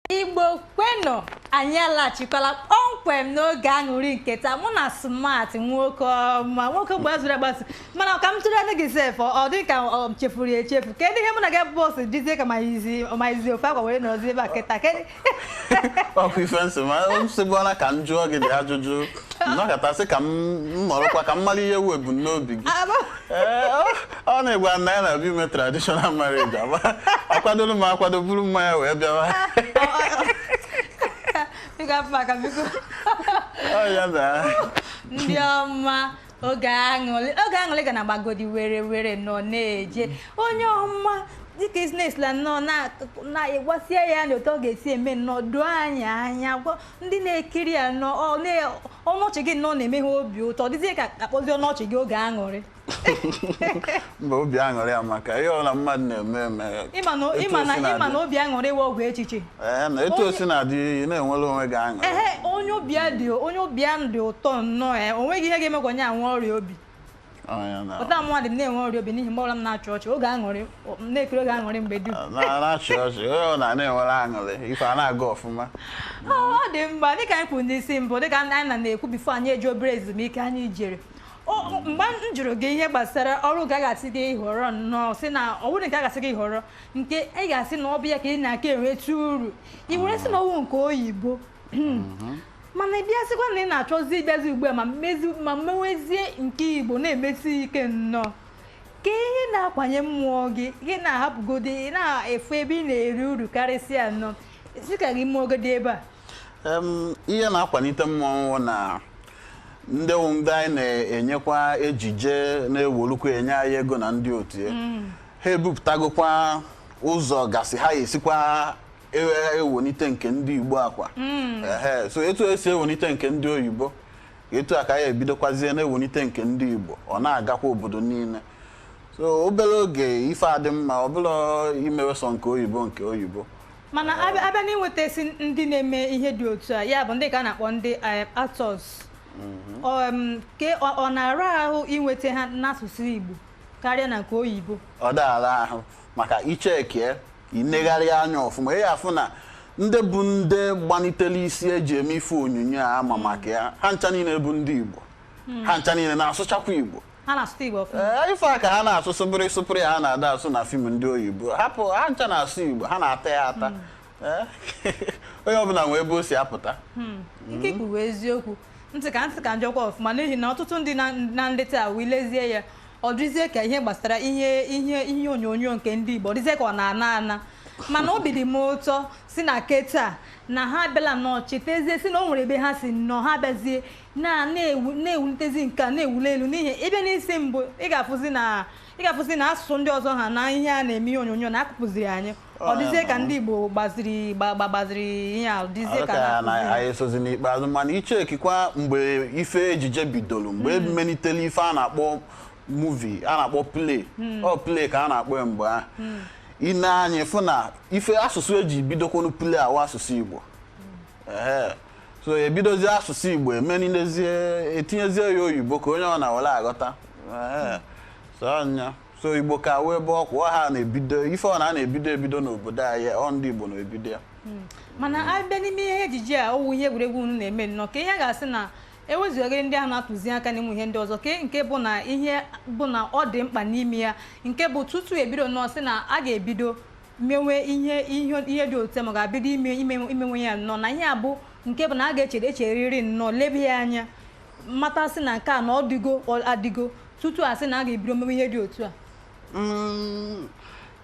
igbo kwenụ anyị alachikwala kpọmkwem n'oge aṅụrị nke taa mụ na smart nwoke ọma nwoke gbazuru agbazu mana ọ ka m tụrụ anya gị sef ọ dị ka ọ chefuru echefu kedu ihe mụ na gị bụ osi dizie ka m yizi ofe akwa wee nọzi ebe a kịta kedu ọkwa ife nsị ma nsịgbụọla ka m jụọ gị dị ajụjụ nnọkọtasị ka m nọrọkwa ka m mara ihe wụ ebumnobi gị ọ na-agwa m na ya na-abịa ime traditional marriage akwadoro m akwado buru mmanya wee bịawa ndị ọma oge aṅụlị ga na-agbagodi were were nọ na-eje onye ọma dịka isnesla nnọọ na-egosi anyị na otu ọ ga-esi eme nnọọ doo anyị anya ndị na-ekiri ya nọ ọnụ ọchị gị nnọọ na-eme ha obi ụtọ dịzie ka a kpọzi ọnụ ọchị gị oge aṅụrị mba obi aṅụrị amaka ihe ọbụla mmadụ na-eme eme ị ma na obi aṅụrị wụ ọgwụ echiche Ee, na etu o si na-adị ị na-enwere onwe gị aṅụrị ehe onye obi ya dị ụtọ nnọọ o nweghị ihe ga-eme ka onye a nwee ọrịa obi pụta mụnwa adị m na-enwe ọrịa obi n'ihi mgbe ọbụla m na-achị ọchị oge aṅụrị na-ekiri oge aṅụrị mgbe dum na-achị ọchị ọ na na-enwere aṅụrị ife a na-aga ọfụma ọ dị mma dịka anyị kwuru n'isi mbụ dịka anyị na na-ekwu bifo anyị eje obere ezumike anyị jere mgbe m jụrụ gị ihe gbasara ọrụ nke a ga-asị gị họrọ nnọọ si na ọ bụrụ nke a ga-asị gị họrọ nke ị ga-asị na ọ bụ ya ka ị na-aka enweta uru ị were sị na ọ wụ nke oyibo hmm. mhm. mana ị bịasịkwa na ị na-achọzi ịbịazi ugbu a ma mmewezie nke igbo na-emesi ike nnọọ kee ihe na-akwanye mmụọ gị gị na-ahapụgodi ị na-efu ebe ị na-eri uru karịsịa nnọọ sị ka gị meegodi ebe a ihe na-akwalite mmụọ m wụ na ndị wụ ndị anyị na-enyekwa ejije na-ewelukwa enye anyị ego na ndị otu mm. ha ebupụtagokwa ụzọ gasị ha esikwa ewenite nke ndị Igbo akwa hmm. ehe so etu esi ewenite nke ndị oyibo etu a ka anyị ebidokwazie na-ewenite nke ndị Igbo ọ na-agakwa obodo niile so obere oge ife adị mma ọ bụla imewe sọ nke oyibo nke oyibo mana a bịa n'inwetasi ndị na-eme ihe dị otu a ya bụ ndị ka a na-akpọ ndị eh, actors mhm. ke ọ na-ara ahụ inweta ha n'asụsụ Igbo karịa na nke oyibo ọ da ara ahụ maka ichekie i negharịa anya ọfụma ị afụ na ndị bụ ndị gbanitere isi eji eme ife onyonyo a ma maka ya ha ncha niile bụ ndị Igbo hmm. ha ncha niile na-asụchakwa Igbo eh, ife a ka ha na-asụ sụpụrụ sụpụrụ ya ha na-ada asụ na fim ndị oyibo hapụ ha ncha na-asụ Igbo ha na-ata ya ata hmm. eh, onye ọbụla nwee ebe o si apụta hmm. m sị ka m sị ka m jụkwa ọfụma n'ihi na ọtụtụ ndị na- na nleta a wee lezie ya ọ dịzie ka ihe gbasara ihe ihe ihe onyonyo nke ndị Igbo ọ dịzie ka ọ na-ana ana mana obi dị m ụtọ sị na kịta na ha abịala nnọọ chetazie sị na o nwere ebe ha si nnọọ ha abịazie na na-ewu na-ewulitezi nke a na-ewuli elu n'ihi ị bịa n'isi mbụ ị ga-afụzi na ị ga-afụzi na asụsụ ndị ọzọ ha na ihe a na-eme ihe onyonyo na-akụpụziri anyị ọ dịzie ka ndị Igbo gbaziri gba- gba- gbaziri ihe a dịzie ka anyị esozi n'ikpeazụ mana i chekikwa mgbe ife ejije bidolu mgbe emelitere ife a na-akpọ movie a na-akpọ play ọ play ka a na-akpọ ya mgbe ahụ i nee anya fụ na ife asụsụ eji bidokwanụ play a wụ asụsụ Igbo Ehe. so ebidozie asụsụ Igbo emenilezie etinyezie ya oyibo ka onye ọbụna were aghọta Ehe. so anya so Igbo ka wee bụ ọkwa ọ ha na-ebido ife ọbụna a na-ebido ebido n'obodo anyị ọ ndị Igbo na-ebido ya mana a bịa n'ime ihe ejije a ọ wụ ihe egwuregwu unu na-eme nnọọ ka ihe a ga-asị na ewezuga ndị ahụ na-atụzi aka n'ime ihe ndị ọzọ ke nke bụ na ihe bụ na ọ dị mkpa n'ime ya nke bụ tutu ebido nnọọ sị na a ga-ebido mewe ihe ihe ihe dị otu a ma ga-ebido ime ime imewe ya nnọọ na ihe a bụ nke bụ na a ga-echere echeriri nnọọ lebe ya anya mata sị na nke a na ọ dịgo ọ adịgo tutu a sị na a ga-ebido mewe ihe dị otu a mm,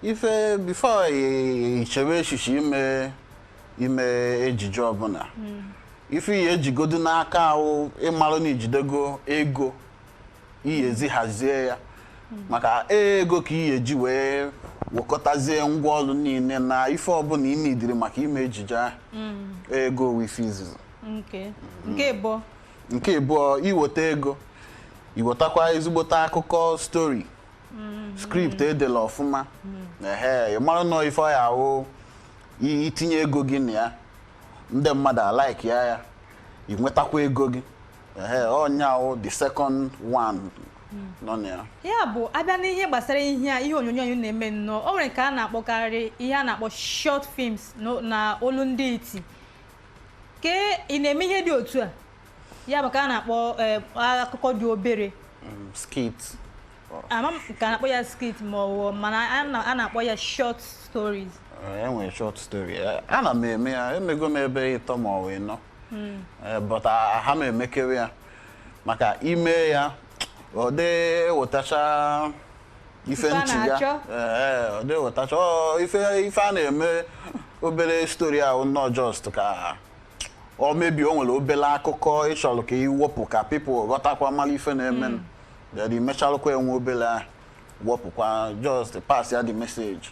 ife before i chewe echiche ime ime ejije ọbụna hmm. ife i ya-ejigodu n'aka wụ ịmarụ na i jidego ego i ya-eji hazie ya hmm. maka ego ka i ya-eji wee wekọtazie ngwa ọrụ niile na ife ọbụna i needịrị maka ime ejije ahụ hmm. ego wụ ife izizi nke bụ nke ịbụọ i weta ego i wetakwa ezigbote akụkọ story script edela ọfụma ehe ị marụ nọọ ife ọ ya-awụ i- i tinye ego gị na ya ndị mmadụ a-like ya ya ị nwetakwa ego gị ehe ọ nya wụ the second one nọ na ya ya bụ a bịa n'ihe gbasara ihe a ihe onyonyo anyị na-eme nnọọ o nwere nke a na-akpọkarị ihe a na-akpọ short films no- na olu ndị iti ke ị na-eme ihe dị otu a ya bụ ka a na-akpọ eh, akụkọ dị obere um, skit ama m ka a na-akpọ ya skit ma ọ bụ mana a na- a na-akpọ ya short stories e nwere short story Eh, ana m eme ya emego m maybe ịtọ ma ọ bụ ịnọ Mm. Eh, but aha m emekewe ya maka ime ya ọ dị ewetacha ife nchiga ọ dị ewetacha ife a na-eme obere story ahụ nnọọ just ka ọ maybe o nwere obere akụkọ ị chọlụ ka i wepụ ka people ghọtakwa mara ife na-eme mm. then i mechalụkwa enwe obere wepụkwa just pass ya the message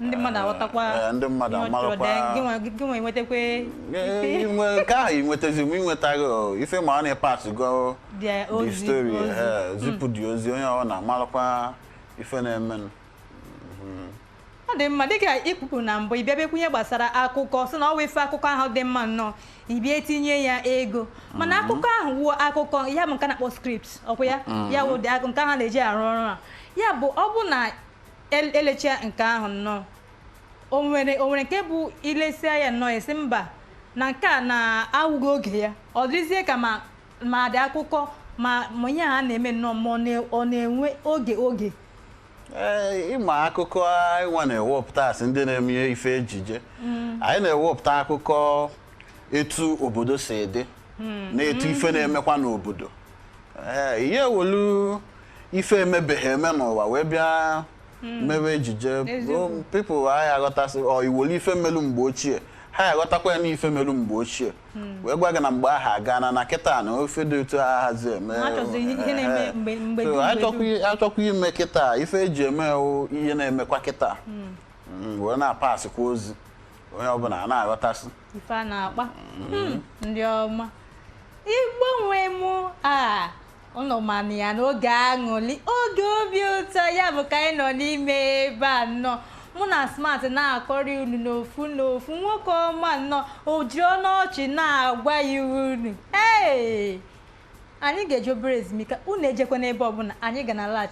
ndị mmadụ aghọtakwa Ee, ndị mmadụ ihe ọ chọrọ amaghịkwa- dee, gị nwa- gị nwa enwetakwa Ee, inwe- nke ahụ inwetazi ma inwetaghị o, ife ma ọ na-epas go Their the ozi, story ozi. ee, zipụ the ozi onye ọbụna amalụkwa ife na-emenụ ọ dị mma dịka ị kwupụrụ na mbụ ị bịa bekwunye gbasara akụkọ sị na ọ wụ ife akụkọ ahụ dị mma nnọọ ị bịa etinye ya ego mana akụkọ ahụ wụ akụkọ ya bụ nke a na-akpọ script ọkwa ya ya wụ dị akụ nke ahụ na-eji arụ ọrụ a ya bụ ọ bụ na El- e lechaa nke ahụ nnọọ o nwere o nwere nke bụ i lesịa ya nnọọ ị sị mba na nke a na-awụghị oge ya ọ dịzie ka ma ma the akụkọ ma ma ihe a na-eme nnọọ ma ọ na- ọ na-enwe oge oge Ee, ị ma akụkọ anyị nwa na-ewepụta as ndị na-eme ife ejije anyị na-ewepụta akụkọ etu obodo si dị hmm. na etu ife na-emekwa n'obodo ee ị ya ewelu ife emebeghị eme n'ụwa wee bịa hmm. mewe ejije people ha ya aghọtasị ọ i welu ife melu mgbe ochie ha ya aghọtakwa ya n'ife melu mgbe ochie hmm. wee gwa gị na mgbe ahụ agana na kịta na ife dị otu a ahazi eme a chọkwa ime kịta ife e ji eme ihe na-emekwa kịta wee na-apasịkwa ozi onye ọbụla ana-aghọtasị ife a na-akpa Hmm, ndị ọma Igbo nwe mụ a ụnụ manụ ya n'oge aṅụli oge obi ụtọ ya bụ ka anyị nọ n'ime ebe a nnọọ mụ na Smart na-akọrị unu n'ofu n'ofu nwoke ọma nnọọ o ji ọnụ ọchị na-agwa ya unu ee anyị ga-eje obere ezumike unu ejekwana ebe ọbụla anyị ga na-alaghachi